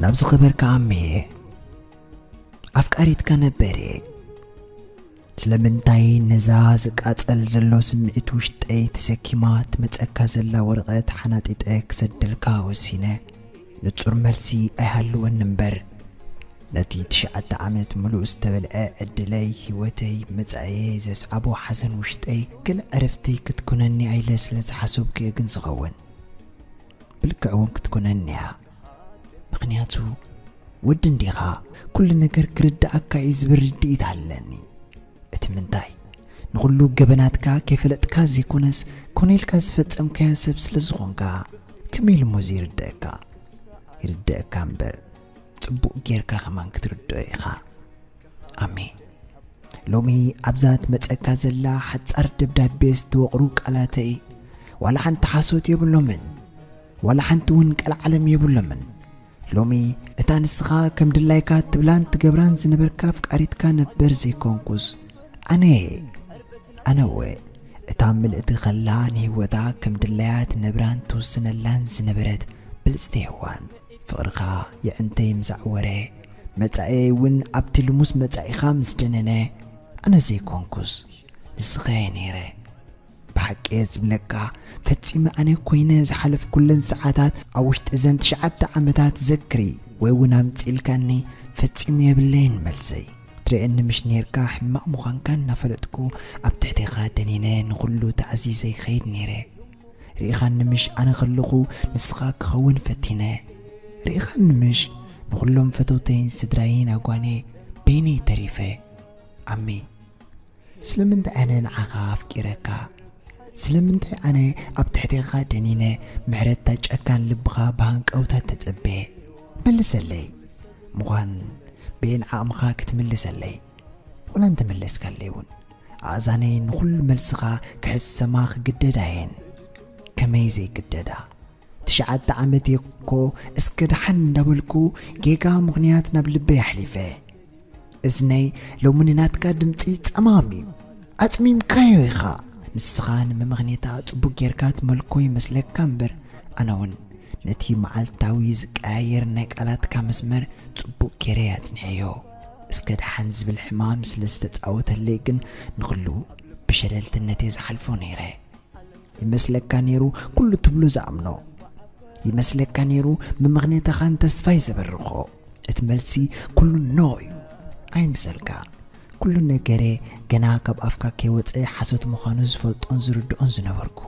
ናብ ዝኸበርካ ኣሜ ኣፍቃሪትካ ነበረ ስለምንታይ ነዛ ዝቃጸል ዘሎ ስምዒት ውሽጠይ ተሰኪማ ትመጸካ ዘላ ወረቐት ሓናጢጠ ክሰደልካ ወሲነ ንጹር መልሲ ኣይሃልወኒ እምበር፣ ነቲ ትሽዓተ ዓመት ምሉእ ዝተበልዐ ዕድለይ፣ ህይወተይ፣ መጻኢየይ ዘስዓቦ ሓዘን ውሽጠይ ገለ ዕረፍቲ ክትኮነኒ'ያ ኢለ ስለ ዝሓሰብኩ'የ ግን ዝኸውን። ብልክዕ'ውን ክትኮነኒ'ያ። ምኽንያቱ ወዲ እንዲኻ ኩሉ ነገር ክርድኣካ'ዩ ዝብል ርድኢት ኣለኒ። እቲ ምንታይ ንኹሉ ገበናትካ ከይፈለጥካ ዘይኮነስ ኮነ ኢልካ ዝፈጸምካዮ ሰብ ስለ ዝኾንካ ከመይ ኢሉ እሞ ዘይርድኣካ ይርድኣካ እምበር ጽቡቕ ጌርካ ከማን ክትርድኦ ኢኻ ኣሜን ሎሚ ኣብዛ ትመጸካ ዘላ ሓጻር ደብዳቤ ዝተወቕሩ ቃላተይ ዋላ ሓንቲ ሓሶት የብሎምን ዋላ ሓንቲ እውን ቀልዓለም የብሎምን ሎሚ እታ ንስኻ ከም ድላይካ እትብላን ትገብራን ዝነበርካ ኣፍቃሪትካ ነበር ዘይኮንኩስ ኣነ እየ ኣነ እወ እታ ምልእቲ ኸላ ንህይወታ ከም ድላያ ትነብራን ትውስነላን ዝነበረት ብልፅቲ ሔዋን ፍቕርኻ የዕንተይ ምስ ኣዕወረ መጻእየይ እውን ኣብቲ ልሙስ መጻኢኻ ምስ ደነነ ኣነ ዘይኮንኩስ ንስኸ እየ ነይረ ብሓቂ እየ ዝብለካ ፈጺመ ኣነ ኮይነ ዝሓለፍኩለን ሰዓታት ኣብ ውሽጢ እዘን ትሽዓተ ዓመታት ዘክሪ ወይ እውን ኣምጺእልካኒ ፈጺሙ የብለይን መልሰይ ትርእየኒ ምሽ ኔርካ ሕማቕ ምዃንካ እናፈለጥኩ ኣብ ትሕቴኻ ደኒነ ንኹሉ ተኣዚዘ ይኸይድ ነይረ ርኢኻኒ ምሽ ኣነ ከለኹ ንስኻ ክኸውን ፈቲነ ርኢኻኒ ምሽ ንኹሎም ፈተውተይን ስድራይን ኣጓኔ በይነይ ተሪፈ ኣሚ ስለምንታይ ኣነ ንዓኻ ኣፍቂረካ ስለምንታይ ኣነ ኣብ ትሕቴኻ ደኒነ ምሕረትታ ጨካን ልብኻ ብሃንቀውታ ተጸቤ መልሰለይ ምዃን ብኤን ዓቕምኻ ክትምልሰለይ ወላ እንተመለስካለይ እውን ኣእዛነይ ንኹሉ መልስኻ ክሕሰማ ክግደዳ እየን ከመይ ዘይግደዳ ትሽዓተ ዓመተይ እኮ እስከ ደሓን እንዳበልኩ ጌጋ ምኽንያት ናብ ልበይ ኣሕሊፈ እዝነይ ሎሚ ንናትካ ድምፂ ፀማም እዩ ኣፅሚምካዮ ኢኻ ንስኻ ንምምኽኔታ ፅቡቅ ጌርካ ትመልኮ ይመስለካ እምበር ኣነ እውን ነቲ መዓልታዊ ዝቀያየር ናይ ቃላትካ መስመር ፅቡቅ ጌረ ኣፅኒሐዮ እስከ ደሓን ዝብል ሕማም ስለ ዝተፃወተለይ ግን ንኹሉ ብሸለልትነተይ ዝሓልፎ ነይረ ይመስለካ ኔሩ ኩሉ ትብሎ ዝኣምኖ ይመስለካ ኔሩ ምምኽኔታኻን ተስፋይ ዘበርኾ እቲ መልሲ ኩሉ ኖ እዩ ኣይምሰልካ ኩሉ ነገሬ ገና ካብ ኣፍካ ከይወፀ ሓሶት ምዃኑ ዝፈልጦን ዝርድኦን ዝነበርኩ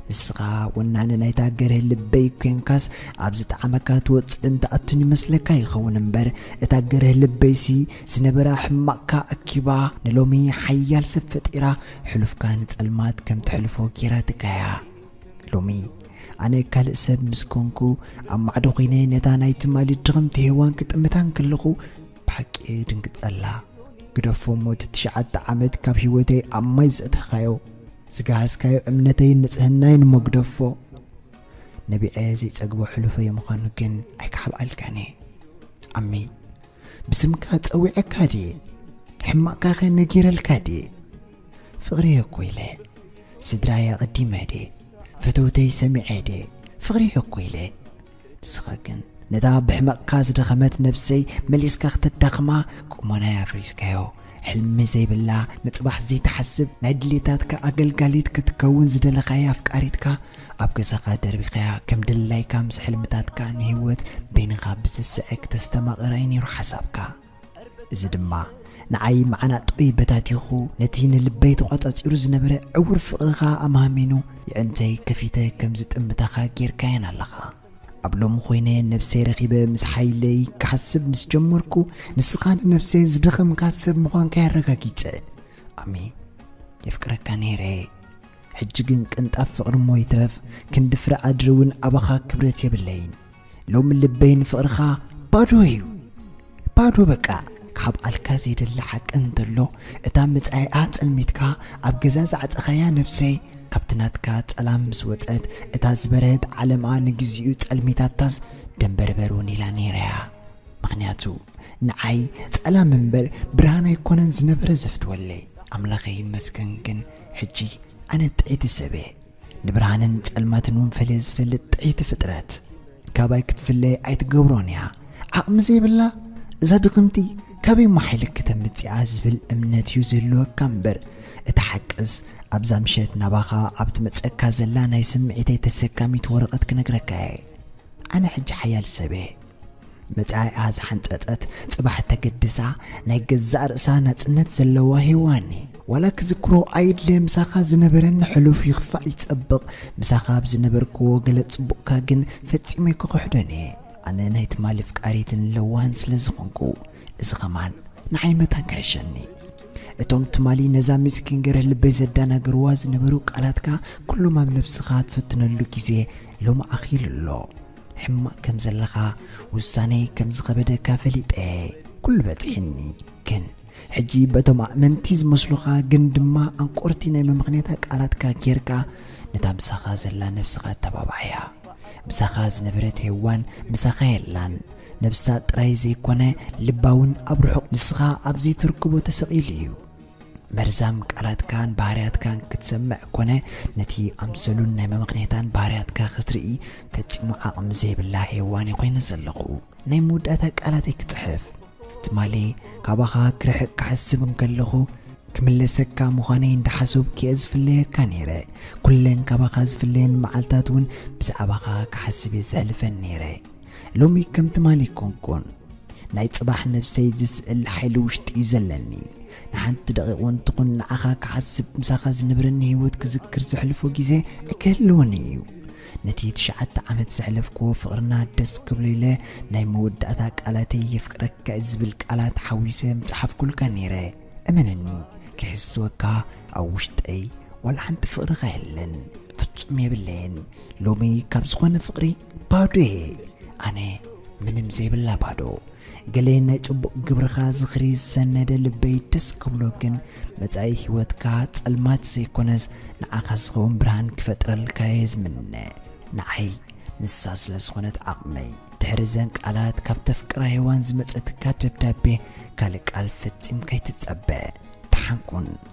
ንስኻ ወናኒ ናይታ ገርህ ልበይ ኮንካስ ኣብ ዝጠዓመካ ትወፅእን ትኣቱን ይመስለካ ይኸውን እምበር እታ ገርህ ልበይሲ ዝነበራ ሕማቕካ ኣኪባ ንሎሚ ሓያል ሰብ ፈጢራ ሕሉፍካ ንጸልማት ከም ተሕልፎ ጌራትካ እያ። ሎሚ ኣነ ካልእ ሰብ ምስ ኮንኩ ኣብ ማዕዶ ኮይነ ነታ ናይ ትማሊ ድኽምቲ ሄዋን ክጥምታ እንከለኹ ብሓቂ እድንግጸላ። ግደፎ እሞ እቲ ትሽዓተ ዓመት ካብ ህይወተይ ኣብ ማይ ዘእተኻዮ ዝገሃስካዮ እምነተይን ንጽህናይን እሞ ግደፎ። ነቢዐ ዘይጸግቦ ሕሉፈይ ምዃኑ ግን ኣይክሓብኣልካን እየ። ኣሚ ብስምካ ጸዊዐካ ድየ ሕማቕካኸ ነጊረልካ ድየ ፍቕሪ'የ እኮ ኢለ ስድራይ ኣቐዲመ ድየ ፈተውተይ ሰሚዐ ድየ ፍቕሪ'የ እኮ ኢለ ንስኻ ግን ነታ ብሕመቕካ ዝደኸመት ነብሰይ መሊስካ ክተዳኽማ ቁመናይ ኣፍሪስካዮ ሕልሚ ዘይብላ ንጽባሕ ዘይትሓስብ ናይ ድሌታትካ ኣገልጋሊት ክትከውን ዝደለኻያ ኣፍቃሪትካ ኣብ ገዛኻ ደርቢኻያ ከም ድላይካ ምስ ሕልምታትካ ንህይወት በይንኻ ብስስዐ ክተስተማቕራ እዩ ነይሩ ሓሳብካ እዚ ድማ ንዓይ መዓናጦይ በታቲኹ ነቲ ንልበይ ተቋጻጺሩ ዝነበረ ዕውር ፍቕርኻ ኣማህሚኑ የዕንተይ ከፊተ ከም ዝጥምታኻ ጌርካየን ኣለኻ ኣብ ሎሚ ኮይነ ነብሰይ ረኺበ ምስ ሓይለይ ክሓስብ ምስ ጀመርኩ ንስኻ ንነብሰይ ዝደኸምካ ሰብ ምዃንካ ኣረጋጊጸ ኣሜን የፍቅረካ ነይረ ሕጂ ግን ቅንጣብ ፍቕሪ እሞ ይትረፍ ክንዲ ፍረ ኣድሪ እውን ኣባኻ ክብረት የብለይን ሎሚ ልበይ ንፍቕርኻ ባዶ እዩ ባዶ በቃ ካብ ኣልካ ዘይደሊ ሓቂ እንተሎ እታ መጻኢኣ ጸልሚትካ ኣብ ገዛ ዝዓጸኻያ ነብሰይ ካብቲ ናትካ ጸላም ምስ ወጸት እታ ዝበረህት ዓለማ ንግዚኡ ጸልሚታታስ ደንበርበር እውን ኢላ ነይራያ ምክንያቱ ንዓይ ጸላም እምበር ብርሃን ኣይኮነን ዝነበረ ዘፍትወለይ ኣምላኸ ይመስገን ግን ሕጂ ኣነ ጥዒቲ ሰበ ንብርሃንን ጸልማትን እውን ፈልየ ዝፈልጥ ጥዕይቲ ፍጥረት ካባይ ክትፍለ ኣይትገብሮን እያ ዓቕሚ ዘይብላ እዛ ድኽምቲ ካበይ እሞ ሓይሊ ከተምጽኣ ዝብል እምነት እዩ ዘለወካ እምበር እቲ ሓቅስ ኣብዛ ምሸት ናባኻ ኣብ ትመጸካ ዘላ ናይ ስምዒተይ ተሰካሚት ወረቐት ክነግረካ እየ ኣነ ሕጂ ሓያል ሰብ እየ መጻኢኣ ዝሓንጸጸት ጽባሕ ተገድሳ ናይ ገዛእ ርእሳ ናጽነት ዘለዋ ሄዋኒ ዋላ ክዝክሮ ኣይድለ ምሳኻ ዝነበረኒ ሕሉፍ ይኽፋእ ይጸብቕ ምሳኻ ኣብ ዝነበርክዎ ገለ ጽቡቕካ ግን ፈጺመ ክኽሕዶን እየ ኣነ ናይ ትማሊ ፍቃሪትን ለዋህን ስለ ዝኾንኩ እዚ ኸማን ንዓይ መታን ክሕሸኒ እቶም ትማሊ ነዛ ምስኪን ገርህ ልበይ ዘዳናገርዋ ዝነበሩ ቃላትካ ኩሎም ኣብ ነብስኻ ትፍትነሉ ግዜ ሎሚ ኣኺሉ ኣሎ ሕማቅ ከም ዘለኻ ውሳኔይ ከም ዝኸበደካ ፈሊጠ ኩሉ በጺሕኒ ግን ሕጂ በቶም ኣእመንቲ ዝመስሉኻ ግን ድማ ኣንቆርቲ ናይ መመኽኔታ ቃላትካ ጌርካ ነታ ምሳኻ ዘላ ነብስኻ ኣተባብዓያ ምሳኻ ዝነበረት ሄዋን ምሳኻ የላን ነብሳ ጥራይ ዘይኮነ ልባ እውን ኣብ ርሑቕ ንስኻ ኣብ ዘይትርክቦ ተሰቒሉ እዩ መርዛም ቃላትካን ባህርያትካን ክትሰምዕ ኮነ ነቲ ኣምሰሉን ናይ መመኽኔታን ባህርያትካ ክትርኢ ፈጺሙ ዓቕሚ ዘይብላ ሄዋን እየ ኮይነ ዘለኹ። ናይ መወዳእታ ቃላተይ ክጽሕፍ ትማሊ ካባኻ ክርሕቅ ክሓስብ እንከለኹ ክምለሰካ ምዃነይ እንዳሓሰብኩ'የ ዝፍለየካ ነይረ። ኩለን ካባኻ ዝፍለየን መዓልታት እውን ብዛዕባኻ ክሓስብ እየ ዘሕልፈን ነይረ። ሎሚ ከም ትማሊ ኣይኮንኩን ናይ ጽባሕ ነብሰይ ዝስእል ሓይሊ ውሽጢ'ዩ ዘለኒ ንሓንቲ ደቂቅ ውን ትኹን ንዓኻ ክሓስብ ምሳኻ ዝነብረኒ ህይወት ክዝክር ዘሕልፎ ግዜ ኣይክህልወን እዩ ነቲ ትሽዓተ ዓመት ዘሕለፍክዎ ፍቅርና ደስ ክብሎ ኢለ ናይ መወዳእታ ቃላተይ የፍቅረካ ዝብል ቃላት ሓዊሰ ምጽሓፍኩልካ ነይረ እመነኒ ክሕስወካ ኣብ ውሽጠይ ዋላ ሓንቲ ፍቅርኻ የለን ፍጹም የብለየን ሎሚ ካብ ዝኾነ ፍቅሪ ባዶየ ኣነ ምንም ዘይብላ ባዶ ገለ ናይ ጽቡቕ ግብርኻ ዝኽሪ ዝሰነደ ልበይ ደስ ክብሎ ግን መጻኢ ህይወትካ ጸልማት ዘይኮነስ ንዓኻ ዝኸውን ብርሃን ክፈጥረልካ እየ ዝምነ ንዓይ ንሳ ስለ ዝኾነት ዓቕመይ ድሕሪ ዘን ቃላት ካብ ተፍቅራ ሔዋን ዝመጸትካ ደብዳቤ ካልእ ቃል ፈጺም ከይትጸበ ደሓንኩን